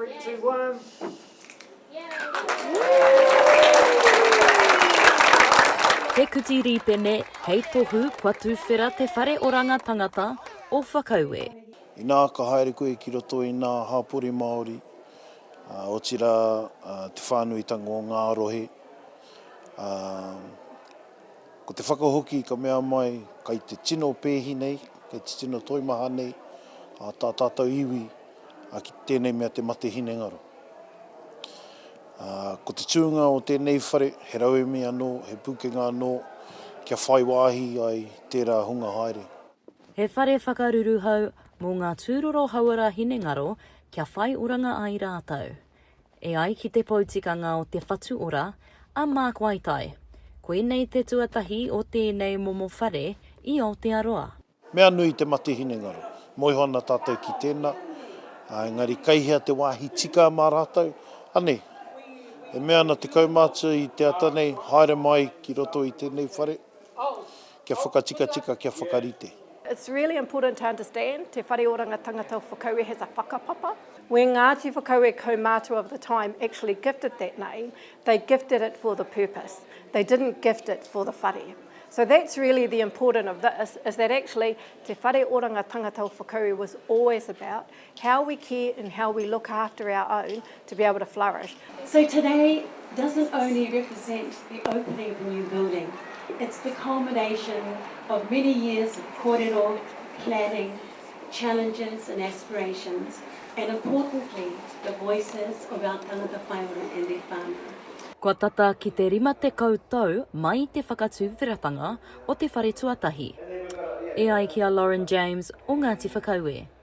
Three, two, one. He kuti rīpene, hei tohu kua tūwhera te whare oranga tangata o Whakaue. Inā ka haere koe ki roto i ngā hapori Māori, otirā te whānuitanga o ngā rohe, Ko te whakahoki ka mea mai kai te tino pēhi nei, kai te tino toimaha nei a tā tātou iwi ki tēnei mea te mate hinengaro. Ko te tūnga o tēnei whare he rauemi anō, he pūkenga anō kia whai wāhi ai tērā hunga haere. He whare whakaruruhau mō ngā tūroro hauora hinengaro kia whai oranga ai rātou. E ai ki te poutikanga o Te Whatu Ora, a Mark Waitai, koinei te tuatahi o tēnei momo whare i Aotearoa. Mea nui te mate hinengaro. Moe iho ana tātou ki tēnā, ā, engari kei hea te wāhi tika mā rātou? Anei, e mea ana te kaumātua i te ata nei, haere mai ki roto i tēnei whare. Kia whakatikatika, kia whakarite. It's really important to understand Te Whare Oranga Tangata o Whakaue has a whakapapa. When Ngāti Whakaue kaumātua of the time actually gifted that name, they gifted it for the purpose. They didn't gift it for the whare. So that's really the important of this, is that actually Te Whare Oranga Tangata o Whakaue was always about How we care and how we look after our own to be able to flourish. So today doesn't only represent the opening of a new building, it's the culmination of many years of korero, planning, challenges and aspirations, and importantly, the voices of our tangata whainga and their whanau. Kua tata ki te rima tekau tau mai i te whakatūwheratanga o te whare tuatahi. E ai ki a Lauren James o Ngāti Whakaue.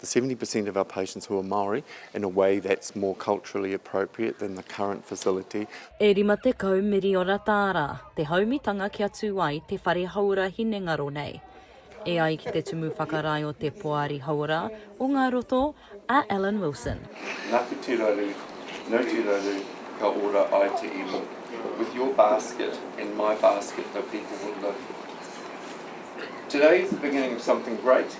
the 70 per cent of our patients who are Māori in a way that's more culturally appropriate than the current facility. E rima tekau miriona tāra te haumitanga kia tū ai te whare hauora hinengaro nei. E ai ki te Tumu Whakarae o te Poari Hauora o Ngā Roto, a Alan Wilson. Naku te raru, no te raru, ka ora ai te iwi. With your basket and my basket the people will live. Today is the beginning of something great.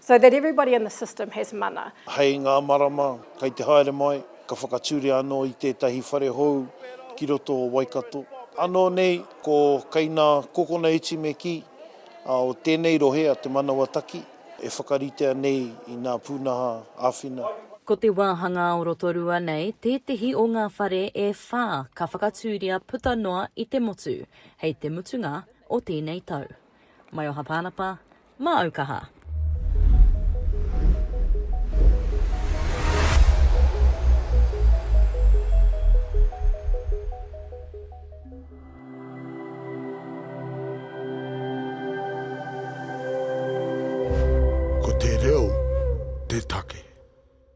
So that everybody in the system has mana. Hei ngā marama kei te haere mai, ka whakatūria anō i tētahi whare hou ki roto o Waikato. Anō nei ko Kainā Kokona Etimeki o tēnei rohe a Te Manawataki e whakaritea nei i nā pūnaha āwhina. Ko te wāhangā o Rotorua nei tētehi o ngā whare e whā ka whakatūria puta noa i te motu hei te mutunga o tēnei tau. Maioha Pānapa, Māu kaha. Ko te reo te take.